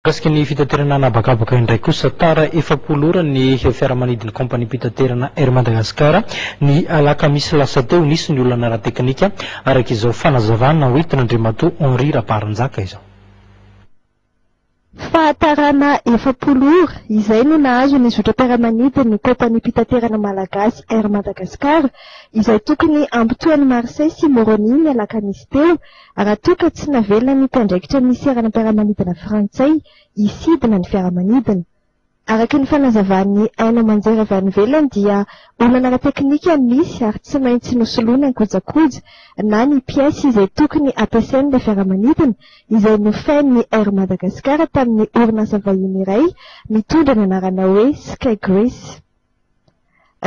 Mikasika ny fitaterana an'habakabaka indray kosa, tara efapolo ora ny fiaramanidin'ny kaompaniam-pitaterana Air Madagascar, ny alakamisy lasa teo, nisy ny olana ara-teknika, araka izao fanazavana hoentin'Andriamatoa Henri Rabaranjaka izao. Fahatarana efapolo ora, izay no nahazo ny zotram-piaramanidin'ny kaompaniam-pitaterana malagasy Air Madagascar, izay tokony hampitohy an'i Marseille sy Moroni ny alakamisy teo, Raha toa ka tsy navelona ny mpiandraikitra ny seranam-piaramanidina frantsay hisidina ny fiaramanidina. Araka ny fanazavan'ny haino aman-jery avy any ivelany dia olana ara-teknika no misy ary tsy maintsy nosoloina ny kojakoja na ny pièces izay tokony hampiasain'ilay fiaramanidina izay nofain'ny Air Madagascar tamin'ny orinasa vahiny iray mitondra ny anarana hoe Sky Greece.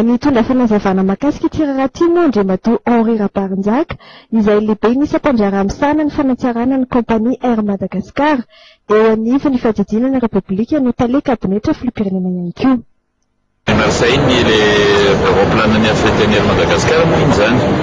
Nitondra fanazavana mahakasika ity raharaha ity moa Andriamatoa Henri Rabarinjaka, izay lehiben'ny sampandraharaha misahana ny fanatsarana ny kaompania Air Madagascar, eo anivon'ny Fandidiana ny Repoblika no Tale kabinetra filoham-pirenena ihany koa. Lazainy ilay vaovaom-pilanan'ny African Air Madagascar moa iny izany.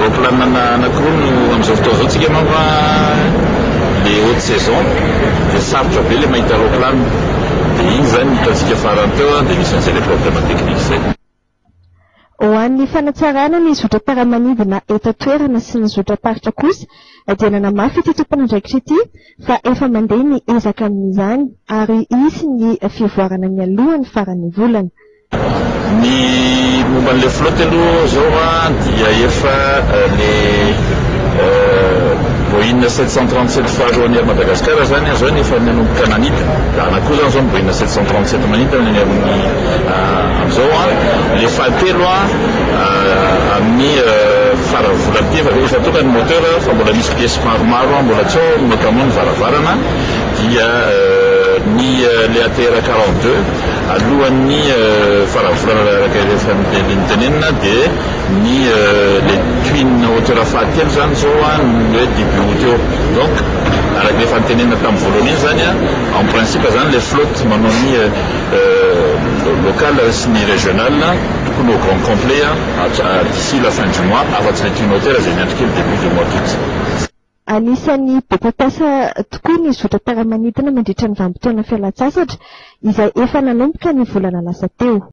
Raopilanina anakiroa no amin'izao fotoana izao tsika manko a, le haute saison dia sarotra be le mahita raopilana dia iny izany ny hitantsika farany teo a, dia nisy an'izay le problème technique izay. Ho an'ny fanatsarana ny zotram-piaramanidina eto an-toerana sy ny zotram-paritra kosa dia nanamafy ity tompon'andraikitra ity fa efa mandeha ny ezaka amin'izany ary hisy ny fivoarana mialohan'ny faran'ny volana. Ny momba an'ilay flotte aloha izao an, dia efa ilay Boeing sept cent trente sept faharoa an'i Air Madagascar izany an, izao no efa nanomboka nanidina, dia anona koa izany izao ny Boeing sept cent trente sept manidina ny amin'ny amin'izao an, ilay fahatelo an, amin'ny faran'ny volana ity, efa efa tonga ny moteur fa mbola misy pièces maromaro an, mbola tsy ao notamment ny varavarana dia ny ilay ATR quarante deux. Alohan'ny faran'ny volana raha araka ireo fandehandeha notenenina dia ny le twin hauteur fahatelo izany izao an ny hoe début aout eo donc araka ny efa notenenina tamin'ny voalohany iny izany an en principe izany le flotte manao ny local sy ny régional tokony ho grand complet an d'ici la fin du mois afa-tsy le twin hauteur izay miandry kely début de mois d'aout. Anisan'ny be mpampiasa tokoa ny zotra tara-manidina mandritra ny vanim-potoana fialan-tsasatra, izay efa nanomboka ny volana lasa teo.